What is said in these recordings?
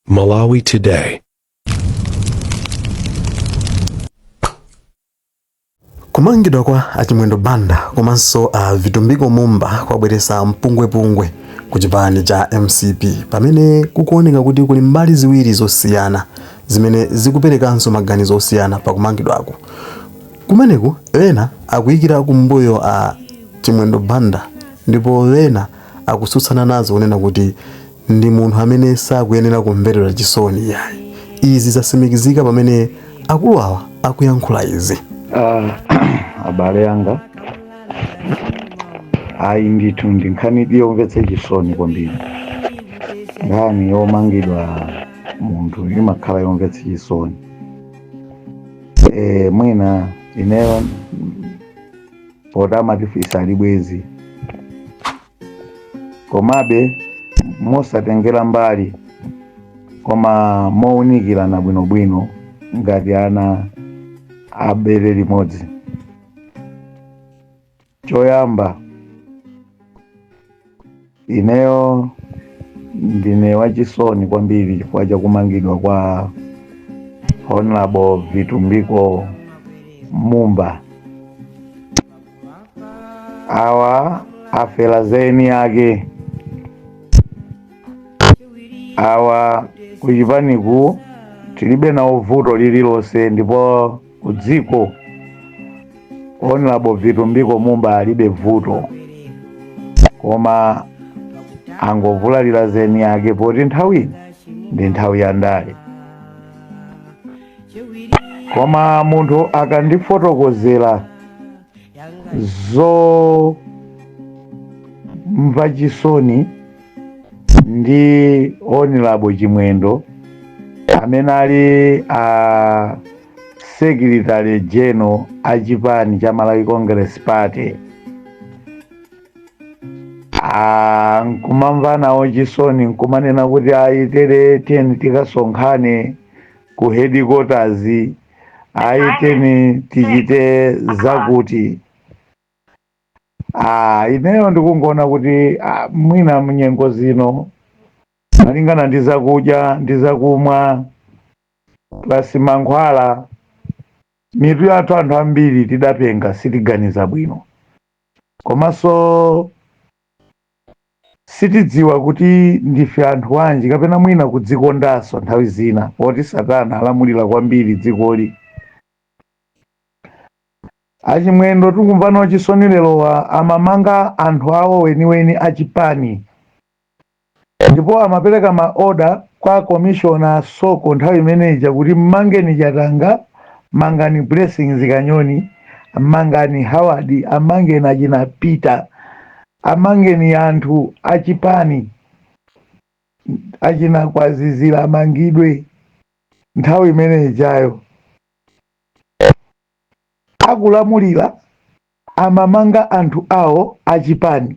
Malawi Today. kumangidwa kwa a chimwendo banda komanso a vitumbiko mumba kwabweretsa mpungwepungwe ku chipani cha mcp pamene kukuoneka kuti kuli mbali ziwiri zosiyana zimene zikuperekanso maganizo osiyana pa kumangidwaku kumeneku ena akuyikira kumbuyo a chimwendo banda ndipo ena akutsutsana nazo kunena kuti ndi munthu amene sakuyenera kumverera chisoni iyayi. Izi zasimikizika pamene akulu awa akuyankhula izi. Ah, abale anga ayi ndithu ndi nkhani yomvetsa chisoni kwambiri nkhani yomangidwa munthu imakhala yomvetsa chisoni e, mwina ineyo poti amati fisi alibe bwenzi komabe mosatengera mbali koma mowunikirana bwinobwino ngati ana a bere limodzi choyamba ineyo ndine wachisoni kwambiri chifukwa cha kumangidwa kwa honorable vitumbiko mumba awa afera za eni ake awa kuchipaniku tilibe nawo vuto lililonse ndipo kudziko honorable vitumbiko mumba alibe vuto koma angovulalira za eni ake poti nthawi ino ndi nthawi ya ndale koma munthu akandifotokozera zomva chisoni ndi honorable chimwendo amene ali a secretary general a chipani cha malawi congress party Ah, nkumamva nawo chisoni nkumanena kuti ayi tiyeni tikasonkhane ku headquarters ayi tiyeni tichite zakuti ah, ineyo ndikungoona kuti ah, mwina mnyengo zino malingana ndi zakudya ndi zakumwa plus mankhwala mitu yathu anthu ambiri tidapenga sitiganiza bwino komanso Sitidziwa kuti ndife anthu anji kapena mwina kudzikondanso nthawi zina poti satana alamulila kwambiri dzikoli. Achimwendo tikumva nawo chisoni lerowa amamanga anthu awo weniweni a chipani ndipo amapeleka ma order kwa commissioner a Soko nthawi imene ija kuti mmangeni Chatanga, mangani Blessings Kanyoni, mangani Howard, amangeni achina Peter. Amangeni anthu achipani achina Kwazizira amangidwe nthawi imene ijayo akulamulila amamanga anthu awo achipani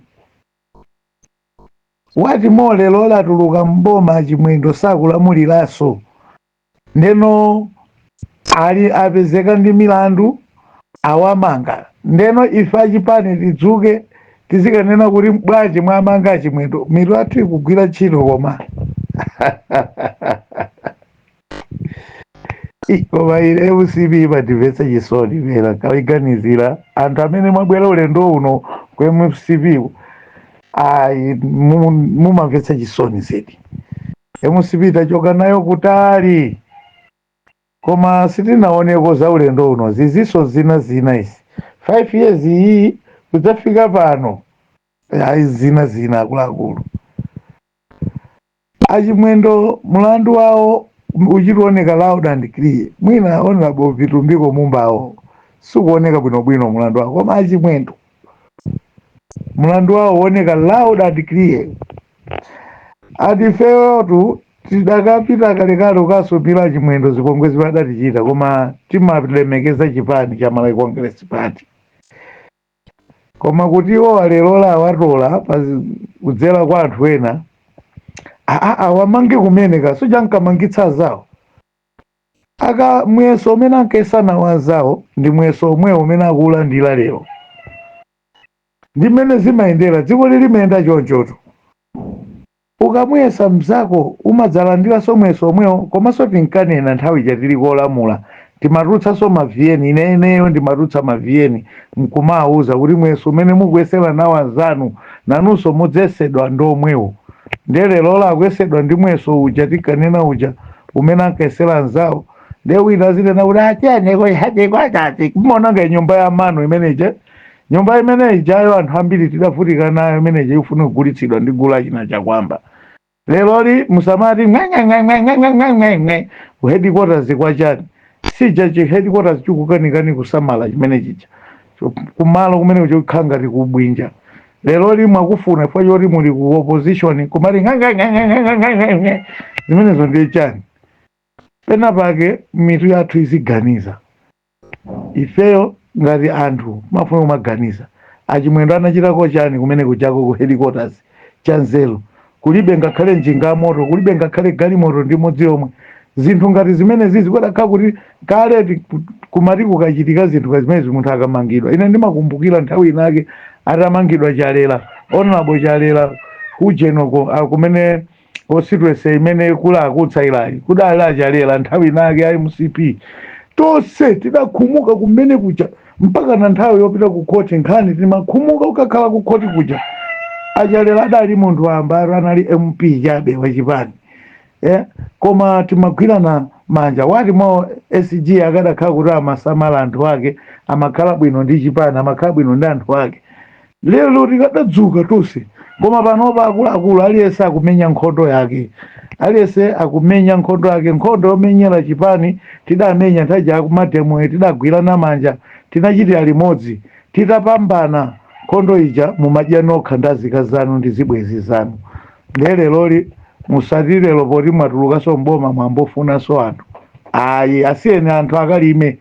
what more lerola atuluka m'boma achimwendo sakulamuliranso ndeno awa apezeka ndi milandu awamanga ndeno ife achipani tidzuke tizikanena kuti bwanji mwamanga achimwendo mitu yathu ikugwira ntchito koma Ih, koma ine mcp imandimvetsa chisoni pena nkaiganizira anthu amene mwabwera ulendo uno ku mcp ayi mu- mumamvetsa chisoni zedi Mcp tachoka nayo kutali koma sitinaoneko za ulendo uno zizinso zina zina izi 5 years iyiyi kudzafika pano ayi zina zina akuluakulu achimwendo mulandu wawo uchituoneka loud and clear mwina honorable vitumbiko mumbawo sikuoneka bwinobwino mulandu wawo koma achimwendo Mulandu wawo uwoneka loud and clear ati ifeyotu tidakapita kalekale kukasumira achimwendo zipongwe zimene adatichita koma timalemekeza chipani cha Malawi Congress Party koma kuti iwowa lerola awatola pa zi- kudzera kwa anthu ena aa awamange kumene ka suja ankamangitsa anzawo Aka muyeso umene ankayesa nawo anzawo ndi muyeso omwewo umene akuulandira lero. Ndi mmene zimayendera, dzikoli limayenda chonchotu. Ukamuyesa mnzako umadzalandiranso muyeso omwewo komanso tinkanena nthawi ija tili kolamula timatulutsanso ma vn ineneyo ndimatulutsa ma vn mkumawauza kuti muyeso umene mukuyesera nawo anzanu nanunso mudzayesedwa ndi omwewo. Ndiye lerolo akuyesedwa ndi muyeso uja tinkanena uja. umene ankayesera anzawo ndiye wina azinena kuti achoneko ku headquarters kumaononga nyumba ya mano imeneje nyumba imene ijayo anthu ambiri tidavutika nayo imeneje ikufuna kugulitsidwa ndi gulu achina chakwamba leroli musamati ng'ang'ang'ang'ang'ang'ang'ang'ang'ang'e ku headquarters kwa chani sija chi headquarters chikukanikani kusamala chimene chija kumalo kumene kuchokhala ngati kubwinja leroli mwakufuna chifukwa choti muli ku opposition kumati ng'ang'ang'ang'ang'ang'ang'ang'ang'e. zimenezo ndiye chani pena pake mitu yathu iziganiza ifeyo ngati anthu mufune kumaganiza achimwendo anachitako chani kumene kuchako ku headquarters cha nzeru Kulibe ngakhale njinga ya moto, kulibe ngakhale galimoto ndi imodzi yomwe. Zinthu ngati zimenezi zikadakhala kuti kale kumati kukachitika zinthu ngati zimenezi munthu akamangidwa. Ine ndimakumbukira nthawi inayake atamangidwa Chalela, Hon. Chalela kujeni uko, ah, kumene constituency imene kuli a Kutsaira-yi kudali a Chalela nthawi inayake a mcp tonse tidakhumuka kumene kuja mpakana nthawi yopita ku khoti nkhani timakhumuka kukakhala ku khoti kuja a Chalela adali munthu wambaro anali mp chabe wachipani eh? koma timagwirana manja wati mwa sg akadakhala kuti amasamala anthu ake amakhala bwino ndi chipani amakhala bwino ndi anthu ake Lero tikadadzuka tonse, koma panopa akuluakulu aliyense akumenya nkhondo yake, aliyense akumenya nkhondo yake. Nkhondo yomenyera chipani tidamenya nthawi ija ya kumademoyi, tidagwirana manja, tinachitira limodzi. Titapambana nkhondo ija mumadya nokha ndi azika zanu ndi zibwenzi zanu, ndiye leroli musati lero poti mwatulukanso m'boma mwayamba kufunanso anthu ayi, asiyeni anthu akalime.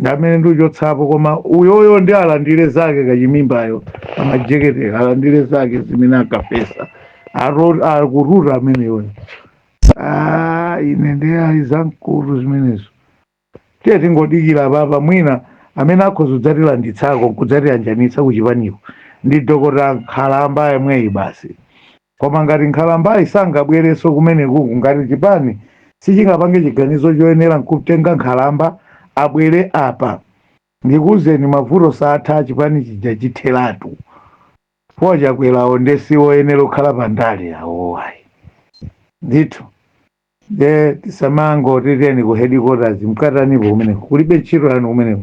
ndi amene ndiuchotsapo koma uyoyo ndi alandire zake kachimimbayo amajeketeyo alandire zake zimene akafesa akututa ameneyo Ah, ine nde ayi zamkutu zimenezo tiyeni tingodikira apapa mwina amene akhoza kudzatilanditsako nkudzatiyanjanitsa kuchipaniko ndi dokota nkhalamba yemweyi basi Koma ngati nkhalambayi sangabwerenso kumenekuku ngati chipani sichingapange chiganizo choyenera nkukatenga nkhalamba abwere apa ndikuuzeni mavuto saatha chipani chija chitheratu poti akwerawo nde siwoyenera kukhala pa ndale awowo ayi ndithu nde tisamangoti tiyeni ku headquarters mkatanipo kumeneko kulibe ntchito yanu kumeneko